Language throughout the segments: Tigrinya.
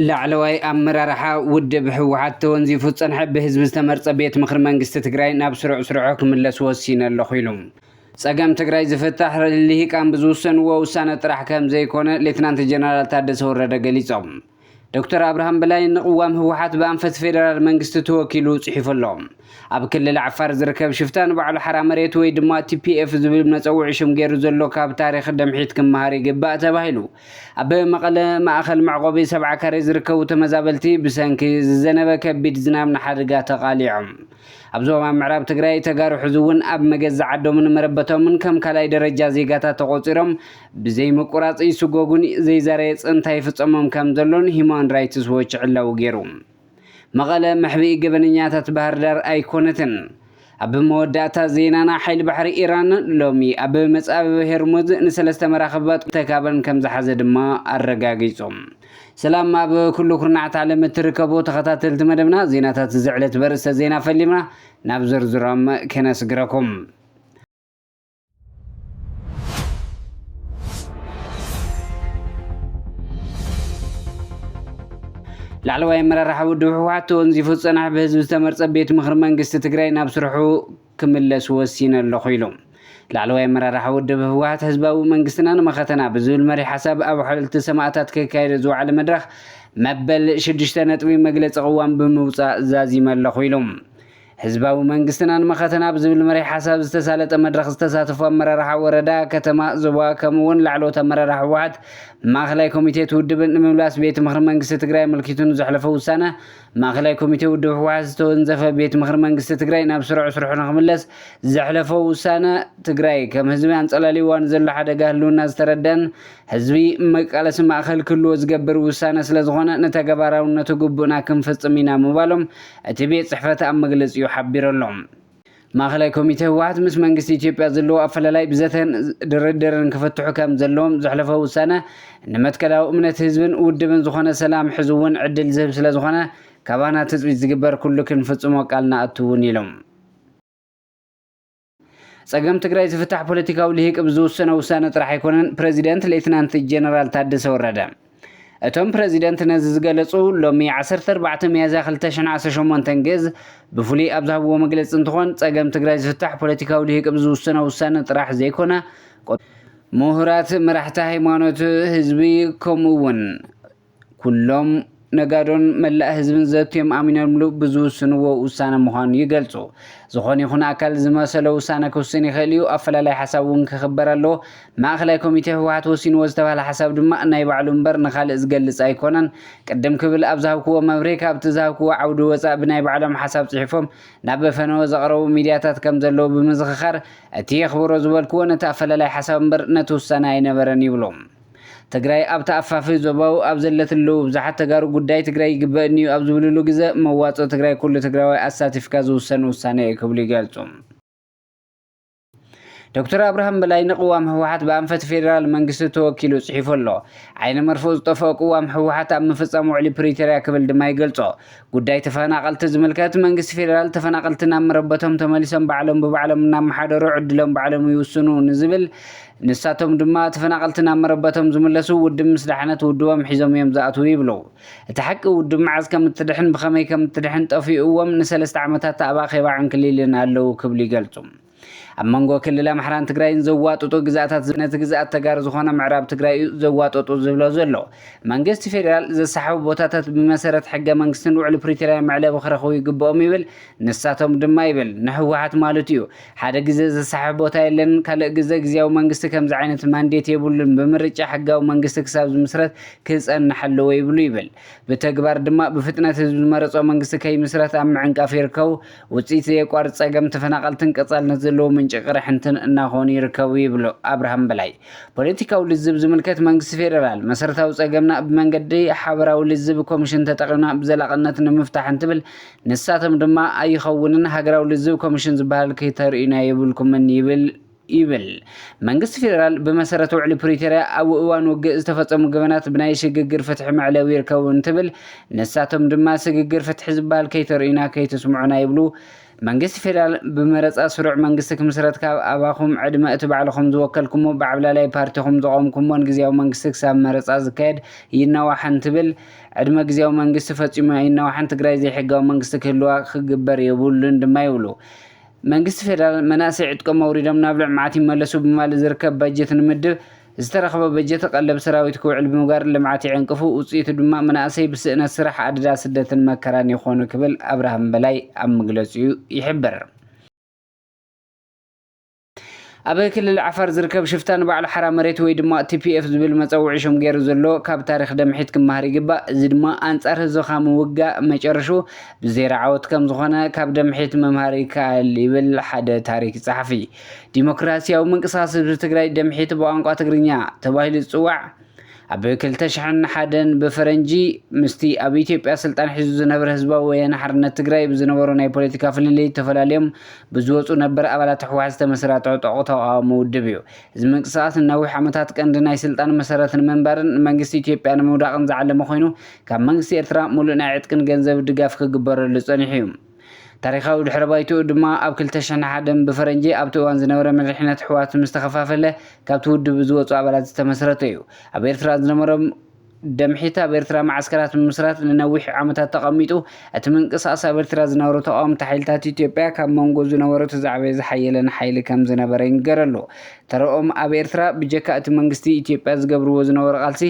ላዕለዋይ ኣመራርሓ ውድብ ህወሓት ተወንዚፉ ዝፀንሐ ብህዝቢ ዝተመርፀ ቤት ምኽሪ መንግስቲ ትግራይ ናብ ስሩዕ ስርዑ ክምለስ ወሲነ ኣለኹ ኢሉ። ፀገም ትግራይ ዝፍታሕ ልሂቃን ብዝውሰንዎ ውሳነ ጥራሕ ከምዘይኮነ ሌትናንት ጀነራል ታደሰ ወረደ ገሊፆም። ዶክተር ኣብርሃም በላይ ንቕዋም ህወሓት ብኣንፈት ፌደራል መንግስቲ ተወኪሉ ጽሒፉ ኣሎ። ኣብ ክልል ዓፋር ዝርከብ ሽፍታ ንባዕሉ ሓራ መሬት ወይ ድማ ቲፒኤፍ ዝብል መጸውዒ ሽም ገይሩ ዘሎ ካብ ታሪኽ ደምሒት ክመሃር ይግባእ ተባሂሉ። ኣብ መቐለ ማእኸል መዕቖቢ ሰብዓ ካሬ ዝርከቡ ተመዛበልቲ ብሰንኪ ዝዘነበ ከቢድ ዝናብ ንሓደጋ ተቓሊዖም። ኣብ ዞባ ምዕራብ ትግራይ ተጋሩ ሕዚ እውን ኣብ መገዛ ዓዶምን መረበቶምን ከም ካልኣይ ደረጃ ዜጋታት ተቖፂሮም ብዘይምቁራጽ ይስጎጉን ዘይዛረየ ጽንታ ይፍጸሞም ከም ዘሎን ሂማን ራይትስ ዎች ዕላዊ ገይሩ። መቐለ መሕብኢ ገበነኛታት ባህርዳር ኣይኮነትን። ኣብ መወዳእታ ዜናና ሓይሊ ባሕሪ ኢራን ሎሚ ኣብ መጻብብ ሄርሙዝ ንሰለስተ መራኽብባት ተካበን ከም ዝሓዘ ድማ ኣረጋጊጹ። ሰላም ኣብ ኩሉ ኩርናዓት ዓለም እትርከቡ ተኸታተልቲ መደብና ዜናታት እዚ ዕለት በርእስተ ዜና ፈሊምና ናብ ዝርዝሮም ከነስግረኩም። ላዕለዋይ ኣመራርሓ ውድብ ህወሓት ተወንዚፉ ዝፀንሐ ብህዝቢ ዝተመርፀ ቤት ምኽሪ መንግስቲ ትግራይ ናብ ስርሑ ክምለስ ወሲነ ኣለኹ ኢሉ። ላዕለዋይ ኣመራርሓ ውድብ ህወሓት ህዝባዊ መንግስትና ንመኸተና ብዝብል መሪ ሓሳብ ኣብ ሓወልቲ ሰማእታት ክካየደ ዝወዓለ መድረኽ መበል ሽዱሽተ ነጥቢ መግለፂ ቅዋም ብምውፃእ ዛዚመ ኣለኹ ኢሉ። ህዝባዊ መንግስትናን መኸተና ብዝብል መሪሕ ሓሳብ ዝተሳለጠ መድረኽ ዝተሳተፉ ኣመራርሓ ወረዳ፣ ከተማ፣ ዞባ ከምኡ እውን ላዕለዎት ኣመራርሓ ህወሓት ማእኸላይ ኮሚቴ እቲ ውድብ ንምምላስ ቤት ምኽሪ መንግስቲ ትግራይ ኣመልኪቱ ንዘሕለፎ ውሳነ ማእኸላይ ኮሚቴ ውድብ ህወሓት ዝተወንዘፈ ቤት ምኽሪ መንግስቲ ትግራይ ናብ ስሩዕ ስርሑ ንክምለስ ዘሕለፎ ውሳነ ትግራይ ከም ህዝቢ ኣንፀላሊዩዋ ንዘሎ ሓደጋ ህልውና ዝተረደኣን ህዝቢ መቃለሲ ማእኸል ክህልዎ ዝገብር ውሳነ ስለዝኾነ ንተገባራውነቱ ግቡእና ክንፍፅም ኢና ምባሎም እቲ ቤት ፅሕፈት ኣብ መግለፂኡ ሓቢሩ'ሎ። ማእኸላይ ኮሚቴ ህወሓት ምስ መንግስቲ ኢትዮጵያ ዘለዎ ኣፈላላይ ብዘተን ድርድርን ክፍትሑ ከምዘለዎም ዘሕለፎ ውሳነ ንመትከላዊ እምነት ህዝብን ውድብን ዝኾነ ሰላም ሕዚ'ውን ዕድል ዝህብ ስለዝኾነ ካባና ትፅቢት ዝግበር ኩሉ ክንፍፅሞ ቃል ንኣቱ እውን ኢሎም። ጸገም ትግራይ ዝፍታሕ ፖለቲካዊ ልሂቅ ብዝውሰኖ ውሳነ ጥራሕ ኣይኮነን፣ ፕረዚደንት ሌትናንት ጀነራል ታደሰ ወረደ። እቶም ፕረዚደንት ነዚ ዝገለጹ ሎሚ ዓሰርተ ኣርባዕተ ሚያዝያ ክልተ ሽሕን ዓሰርተ ሸሞንተን ግዝ ብፍሉይ ኣብ ዝሃብዎ መግለጺ እንትኾን ጸገም ትግራይ ዝፍታሕ ፖለቲካዊ ልሂቅ ብዝውሰኖ ውሳነ ጥራሕ ዘይኮነ ምሁራት፣ መራሕቲ ሃይማኖት፣ ህዝቢ ከምኡ እውን ኩሎም ነጋዶን መላእ ህዝብን ዘትዮም ኣሚኖምሉ ብዝውስንዎ ውሳነ ምዃኑ ይገልጹ። ዝኾነ ይኹን ኣካል ዝመሰሎ ውሳነ ክውስን ይኽእል እዩ፣ ኣፈላላይ ሓሳብ እውን ክኽበር ኣለዎ። ማእኸላይ ኮሚቴ ህወሓት ወሲንዎ ዝተብሃለ ሓሳብ ድማ ናይ ባዕሉ እምበር ንኻልእ ዝገልፅ ኣይኮነን። ቅድም ክብል ኣብ ዝሃብክዎ መብርሂ ካብቲ ዝሃብክዎ ዓውዲ ወፃእ ብናይ ባዕሎም ሓሳብ ፅሒፎም ናብ ፈነወ ዘቕረቡ ሚድያታት ከምዘለዉ ብምዝኽኻር እቲ የኽብሮ ዝበልክዎ ነቲ ኣፈላላይ ሓሳብ እምበር ነቲ ውሳነ ኣይነበረን ይብሉ። ትግራይ ኣብ ተኣፋፊ ዞባዊ ኣብ ዘለትሉ ብዝሓት ተጋሩ ጉዳይ ትግራይ ይግበእኒዩ ኣብ ዝብልሉ ግዘ መዋፅኦ ትግራይ ኩሉ ትግራዋይ ኣሳቲፍካ ዝውሰን ውሳነ እዩ ክብሉ ይገልፁ። ዶክተር ኣብርሃም በላይ ንቅዋም ህወሓት ብኣንፈት ፌዴራል መንግስቲ ተወኪሉ ፅሒፉ ኣሎ። ዓይነ መርፍኡ ዝጠፈኦ ቅዋም ህወሓት ኣብ ምፍፃም ውዕሊ ፕሪቶሪያ ክብል ድማ ይገልፆ። ጉዳይ ተፈናቐልቲ ዝምልከት መንግስቲ ፌደራል ተፈናቐልቲ ናብ መረበቶም ተመሊሶም ባዕሎም ብባዕሎም እናመሓደሩ ዕድሎም ባዕሎም ይውስኑ ንዝብል ንሳቶም ድማ ተፈናቐልቲ ናብ መረበቶም ዝምለሱ ውድብ ምስ ዳሕነት ውድቦም ሒዞም እዮም ዝኣትዉ ይብሉ። እቲ ሓቂ ውድብ መዓዝ ከም እትድሕን ብኸመይ ከም እትድሕን ጠፊኡዎም ንሰለስተ ዓመታት ኣብ ኣኼባ ዕንክሊልን ኣለዉ ክብሉ ይገልጹ። ኣብ መንጎ ክልል ኣምሓራን ትግራይን ዘዋጥጡ ግዝኣታት ነቲ ግዝኣት ተጋሩ ዝኾነ ምዕራብ ትግራይ እዩ ዘዋጠጡ ዝብሎ ዘሎ መንግስቲ ፌዴራል ዘሰሓቡ ቦታታት ብመሰረት ሕገ መንግስትን ውዕሊ ፕሪቶርያን መዕለቢ ክረኽቡ ይግብኦም ይብል ንሳቶም ድማ ይብል ንህወሓት ማለት እዩ ሓደ ግዜ ዘሰሓብ ቦታ የለን ካልእ ግዘ ግዜያዊ መንግስቲ ከምዚ ዓይነት ማንዴት የብሉን ብምርጫ ሕጋዊ መንግስቲ ክሳብ ዝምስረት ክፀንሕ ኣለዎ ይብሉ ይብል ብተግባር ድማ ብፍጥነት ህዝቢ ዝመረፆ መንግስቲ ከይምስረት ኣብ ምዕንቃፍ ይርከቡ ውፅኢት ዘየቋርፅ ፀገም ተፈናቐልትን ቀፃሊ ንዘለዎ ምንጪ ቅርሕንትን እናኾኑ ይርከቡ ይብሉ ኣብርሃም በላይ። ፖለቲካዊ ልዝብ ዝምልከት መንግስቲ ፌደራል መሰረታዊ ፀገምና ብመንገዲ ሓበራዊ ልዝብ ኮሚሽን ተጠቒምና ብዘላቕነት ንምፍታሕ እንትብል ንሳቶም ድማ ኣይኸውንን ሃገራዊ ልዝብ ኮሚሽን ዝበሃል ክተርእዩና የብልኩምን ይብል ይብል መንግስቲ ፌደራል ብመሰረት ውዕሊ ፕሪቶርያ ኣብ እዋን ውግእ ዝተፈፀሙ ገበናት ብናይ ስግግር ፍትሒ መዕለቢ ይርከቡ እንትብል ንሳቶም ድማ ስግግር ፍትሒ ዝበሃል ከይተርእዩና ከይትስምዑና ይብሉ መንግስቲ ፌደራል ብመረፃ ስሩዕ መንግስቲ ክምስረት ካብ ኣባኹም ዕድመ እቲ ባዕልኹም ዝወከልኩሞ ብዓብላላይ ፓርቲኹም ዘቖምኩሞን ግዝያዊ መንግስቲ ክሳብ መረፃ ዝካየድ ይናዋሕ እንትብል ዕድመ ግዝያዊ መንግስቲ ፈፂሙ ኣይናዋሕን ትግራይ ዘይሕጋዊ መንግስቲ ክህልዋ ክግበር የብሉን ድማ ይብሉ መንግስቲ ፌደራል መናእሰይ ዕጥቆም ኣውሪዶም ናብ ልዕምዓት ይመለሱ ብማለት ዝርከብ ባጀት ንምድብ ዝተረኸበ በጀት ቐለብ ሰራዊት ክውዕል ብምግባር ልምዓት ይዕንቅፉ ውፅኢቱ ድማ መናእሰይ ብስእነት ስራሕ ኣደዳ ስደትን መከራን ይኾኑ ክብል ኣብርሃም በላይ ኣብ መግለፂኡ ይሕብር። ኣብ ክልል ዓፋር ዝርከብ ሽፍታ ንባዕሉ ሓራ መሬት ወይ ድማ TPF ዝብል መጸውዒ ሽም ጌሩ ዘሎ ካብ ታሪኽ ደምሒት ክመሃር ይግባእ እዚ ድማ ኣንጻር ህዝብኻ ምውጋእ መጨረሽኡ ብዜሮ ዓወት ከምዝኾነ ካብ ደምሒት ምምሃር ይከኣል ይብል ሓደ ታሪክ ጸሓፊ ዲሞክራሲያዊ ምንቅስቃስ ህዝቢ ትግራይ ደምሒት ብቋንቋ ትግርኛ ተባሂሉ ዝጽዋዕ ኣብ ክልተ ሽሕን ሓደን ብፈረንጂ ምስቲ ኣብ ኢትዮጵያ ስልጣን ሒዙ ዝነበረ ህዝባዊ ወያነ ሓርነት ትግራይ ብዝነበሮ ናይ ፖለቲካ ፍልልይ ተፈላልዮም ብዝወፁ ነበር ኣባላት ህወሓት ዝተመስረተ ዕጡቕ ተቓዋሚ ውድብ እዩ። እዚ ምንቅስቓስ ንነዊሕ ዓመታት ቀንዲ ናይ ስልጣን መሰረት ንምንባርን ንመንግስቲ ኢትዮጵያ ንምውዳቕን ዝዓለመ ኮይኑ ካብ መንግስቲ ኤርትራ ሙሉእ ናይ ዕጥቅን ገንዘብ ድጋፍ ክግበረሉ ፀኒሑ እዩ። ታሪኻዊ ድሕረ ባይትኡ ድማ ኣብ ክልተ ሽሕን ሓደን ብፈረንጂ ኣብቲ እዋን ዝነበረ መሪሕነት ኣሕዋት ምስ ተኸፋፈለ ካብቲ ውድብ ብዝወጹ ኣባላት ዝተመስረተ እዩ። ኣብ ኤርትራ ዝነበሮ ደምሒት ኣብ ኤርትራ መዓስከራት ምምስራት ንነዊሕ ዓመታት ተቐሚጡ እቲ ምንቅስቓስ ኣብ ኤርትራ ዝነበሩ ተቓወምቲ ሓይልታት ኢትዮጵያ ካብ መንጎ ዝነበሩ እቲ ዝዓበየ ዝሓየለን ሓይሊ ከም ዝነበረ ይንገረሉ። ተረኦም ኣብ ኤርትራ ብጀካ እቲ መንግስቲ ኢትዮጵያ ዝገብርዎ ዝነበሩ ቃልሲ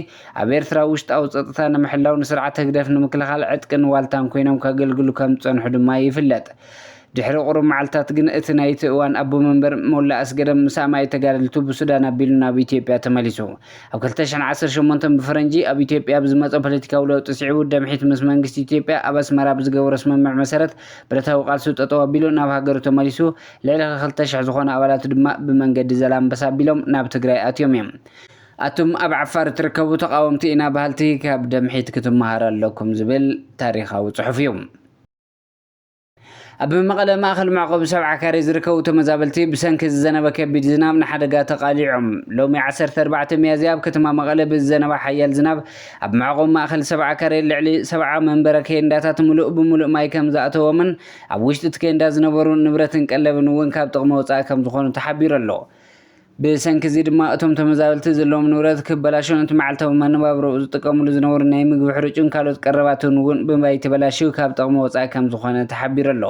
ኣብ ኤርትራ ውሽጣዊ ጸጥታ ንምሕላው ንስርዓት ህግደፍ ንምክልኻል ዕጥቅን ዋልታን ኮይኖም ከገልግሉ ከም ዝጸንሑ ድማ ይፍለጥ። ድሕሪ ቁሩብ መዓልትታት ግን እቲ ናይቲ እዋን ኣቦ መንበር ሞላ ኣስገደም ምስ ኣማኢት ተጋደልቱ ብሱዳን ኣቢሉ ናብ ኢትዮጵያ ተመሊሱ። ኣብ ክልተ ሽሕን ዓሰርተ ሸሞንተን ብፈረንጂ ኣብ ኢትዮጵያ ብዝመጾ ፖለቲካዊ ለውጢ ስዒቡ ደምሒት ምስ መንግስቲ ኢትዮጵያ ኣብ ኣስመራ ብዝገበሮ ስምምዕ መሰረት ብረታዊ ቃልሱ ጠጠው ኣቢሉ ናብ ሃገሩ ተመሊሱ ልዕሊ ክልተ ሽሕ ዝኾኑ ኣባላቱ ድማ ብመንገዲ ዘላምበሳ ኣቢሎም ናብ ትግራይ ኣትዮም እዮም። ኣቱም ኣብ ዓፋር እትርከቡ ተቓወምቲ ኢና በሃልቲ ካብ ደምሒት ክትመሃሩ ኣለኩም ዝብል ታሪኻዊ ጽሑፍ እዩ። ኣብ መቐለ ማእኸል መዕቆቢ ሰብዓ ካሬ ዝርከቡ ተመዛበልቲ ብሰንኪ ዝዘነበ ከቢድ ዝናብ ንሓደጋ ተቓሊዖም። ሎሚ ዓሰርተ ኣርባዕተ ሚያዝያ ኣብ ከተማ መቐለ ብዝዘነበ ሓያል ዝናብ ኣብ መዕቆቢ ማእኸል ሰብዓ ካሬ ልዕሊ ሰብዓ መንበረ ኬንዳታት ምሉእ ብምሉእ ማይ ከም ዝኣተዎምን ኣብ ውሽጢ እቲ ኬንዳ ዝነበሩ ንብረትን ቀለብን እውን ካብ ጥቕሚ ወፃኢ ከም ዝኾኑ ተሓቢሩ ኣሎ። ብሰንኪ እዚ ድማ እቶም ተመዛበልቲ ዘለዎም ንብረት ክበላሾን እቲ መዓልታዊ መነባብሮኡ ዝጥቀምሉ ዝነበሩ ናይ ምግቢ ሕርጩን ካልኦት ቀረባትን እውን ብማይ ተበላሽዩ ካብ ጥቕሚ ወፃኢ ከምዝኾነ ተሓቢሩ ኣሎ።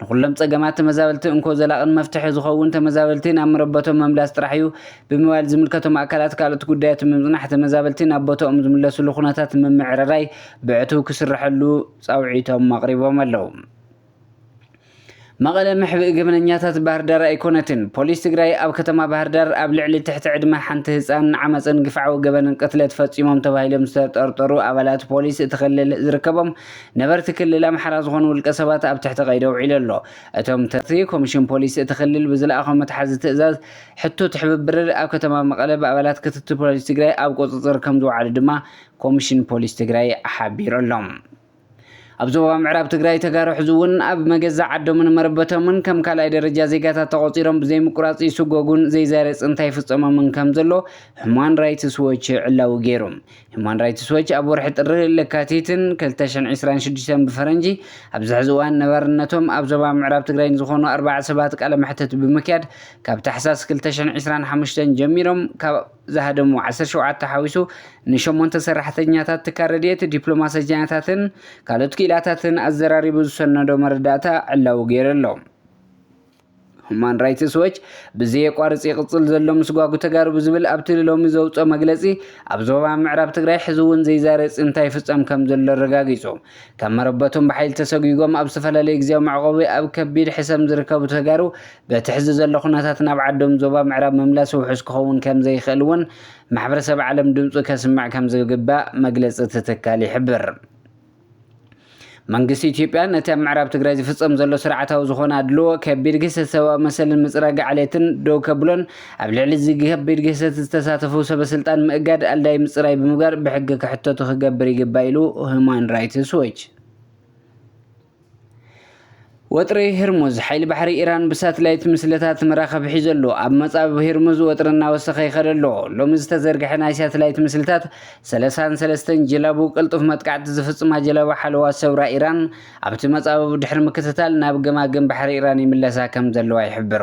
ንኹሎም ፀገማት ተመዛበልቲ እንኮ ዘላቕን መፍትሒ ዝኸውን ተመዛበልቲ ናብ መረበቶም ምምላስ ጥራሕ እዩ ብምባል ዝምልከቶም ኣካላት ካልኦት ጉዳያት ብምፅናሕ ተመዛበልቲ ናብ ቦተኦም ዝምለስሉ ኩነታት ንምምዕርራይ ብዕቱብ ክስረሐሉ ፃውዒቶም ኣቕሪቦም ኣለው። መቐለ መሕብኢ ገበነኛታት ባህርዳር ኣይኮነትን፣ ፖሊስ ትግራይ ኣብ ከተማ ባህርዳር ኣብ ልዕሊ ትሕቲ ዕድመ ሓንቲ ህፃን ዓመፅን ግፍዓዊ ገበንን ቅትለት ፈፂሞም ተባሂሎም ዝተጠርጠሩ ኣባላት ፖሊስ እቲ ክልል ዝርከቦም ነበርቲ ክልል ኣምሓራ ዝኾኑ ውልቀሰባት ኣብ ትሕቲ ቀይዲ ኣውዒሉ ኣሎ። እቶም ተጠርጠርቲ ኮሚሽን ፖሊስ እቲ ክልል ብዝለኣኾም መትሓዚ ትእዛዝ ሕቶ ትሕብብር ኣብ ከተማ መቐለ ብኣባላት ክትትል ፖሊስ ትግራይ ኣብ ቁፅፅር ከምዝወዓሉ ድማ ኮሚሽን ፖሊስ ትግራይ ሓቢሩ ኣሎ። ኣብ ዞባ ምዕራብ ትግራይ ተጋሩ ሕዚ እውን ኣብ መገዛ ዓዶምን መረበቶምን ከም ካልኣይ ደረጃ ዜጋታት ተቖፂሮም ብዘይምቁራፅ ይስጎጉን ዘይዛረ ፅንታ ይፍፀሞምን ከም ዘሎ ሁማን ራይትስ ዎች ዕላዊ ገይሩ። ሁማን ራይትስ ዎች ኣብ ወርሒ ጥሪ፣ ለካቲትን፣ ክልተ ሽሕን ዒስራን ሽዱሽተን ብፈረንጂ ኣብዚ ሕዚ እዋን ነባርነቶም ኣብ ዞባ ምዕራብ ትግራይ ንዝኾኑ ኣርባዕተ ሰባት ቃለ መሕትት ብምክያድ ካብ ታሕሳስ ክልተ ሽሕን ዒስራን ሓሙሽተን ጀሚሮም ካብ ዝሃደሙ ዓሰርተ ሸውዓተ ሓዊሱ ንሸሞንተ ሰራሕተኛታት ትካል ረድኤት፣ ዲፕሎማሰኛታትን ካልኦት ክኢላታትን ኣዘራሪቡ ዝሰነዶ መረዳእታ ዕላዊ ገይሩ ኣሎ። ሁማን ራይትስ ዎች ብዘየቋርፅ ይቕፅል ዘሎ ምስጓጉ ተጋሩ ብዝብል ኣብቲ ሎሚ ዘውፅኦ መግለፂ ኣብ ዞባ ምዕራብ ትግራይ ሕዚ እውን ዘይዛረ ፅንታ ይፍፀም ከምዘሎ ኣረጋጊፁ። ካብ መረበቶም ብሓይሊ ተሰጒጎም ኣብ ዝተፈላለዩ ግዝያዊ መዕቖቢ ኣብ ከቢድ ሕሰም ዝርከቡ ተጋሩ በቲ ሕዚ ዘሎ ኩነታት ናብ ዓዶም ዞባ ምዕራብ ምምላስ ውሑስ ክኸውን ከምዘይኽእል እውን ማሕበረሰብ ዓለም ድምፁ ከስምዕ ከምዝግባእ መግለፂ እቲ ትካል ይሕብር። መንግስቲ ኢትዮጵያ ነቲ ኣብ ምዕራብ ትግራይ ዝፍፀም ዘሎ ስርዓታዊ ዝኾነ ኣድልዎ፣ ከቢድ ግህሰት ሰብኣዊ መሰልን ምፅራግ ዓሌትን ደው ከብሎን ኣብ ልዕሊ እዚ ከቢድ ግህሰት ዝተሳተፉ ሰበስልጣን ምእጋድ፣ ኣልዳይ ምፅራይ ብምግባር ብሕጊ ክሕተቱ ክገብር ይግባእ ኢሉ ሁማን ራይትስ ዎች። ወጥሪ ህርሙዝ ሓይሊ ባሕሪ ኢራን ብሳትላይት ምስልታት መራኸብ ሒዘሉ ኣብ መጻብብ ህርሙዝ ወጥሪ እናወሰኸ ይኸደ ኣሎ። ሎሚ ዝተዘርግሐ ናይ ሳትላይት ምስልታት ሰለሳን ሰለስተን ጀላቡ ቅልጡፍ መጥቃዕቲ ዝፍጽማ ጀላቡ ሓለዋ ሰውራ ኢራን ኣብቲ መጻብብ ድሕሪ ምክትታል ናብ ገማግም ባሕሪ ኢራን ይምለሳ ከም ዘለዋ ይሕብሩ።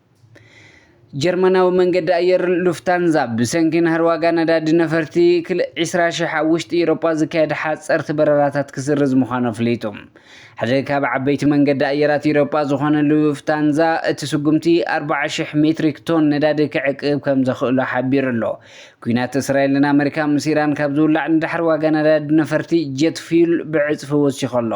ጀርመናዊ መንገዲ ኣየር ሉፍታንዛ ብሰንኪ ናህሪ ዋጋ ነዳዲ ነፈርቲ ክል 20 ሽሕ ኣብ ውሽጢ ኤውሮጳ ዝካየድ ሓጸርቲ በረራታት ክስርዝ ምዃኑ ኣፍሊጡ። ሓደ ካብ ዓበይቲ መንገዲ ኣየራት ኤውሮጳ ዝኾነ ሉፍታንዛ እቲ ስጉምቲ 40 ሽሕ ሜትሪክ ቶን ነዳዲ ክዕቅብ ከም ዘኽእሎ ሓቢሩ ኣሎ። ኲናት እስራኤልን ኣመሪካ ምስ ኢራን ካብ ዝውላዕ ንድሕር ዋጋ ነዳዲ ነፈርቲ ጀት ፊዩል ብዕጽፊ ወሲኹ ኣሎ።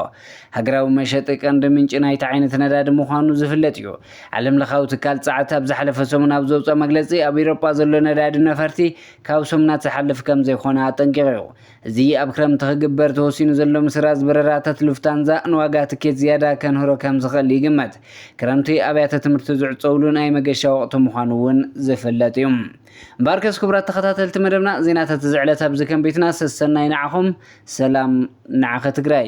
ሃገራዊ መሸጢ ቀንዲ ምንጪ ናይቲ ዓይነት ነዳዲ ምዃኑ ዝፍለጥ እዩ። ዓለምለኻዊ ትካል ጸዓት ኣብ ዝሓለፈ ሰሙን ኣብ ዘውጽኦ መግለጺ፣ ኣብ ኢሮጳ ዘሎ ነዳዲ ነፈርቲ ካብ ሰሙናት ዝሓልፍ ከምዘይኮነ ኣጠንቂቑ'ዩ። እዚ ኣብ ክረምቲ ክግበር ተወሲኑ ዘሎ ምስራዝ በረራታት ሉፍታንዛ ንዋጋ ትኬት ዝያዳ ከንህሮ ከምዝኽእል ይግመት። ክረምቲ ኣብያተ ትምህርቲ ዝዕጸዉሉ ናይ መገሻ ወቕቲ ምዃኑ'ውን ዝፍለጥ'ዩ። እምበኣርከስ ክቡራት ተኸታተልቲ መደብና፣ ዜናታት እዚ ዕለት ኣብዚ ከም ቤትና፣ ሰሰናዩ ንዓኹም፣ ሰላም ንዓኺ ትግራይ!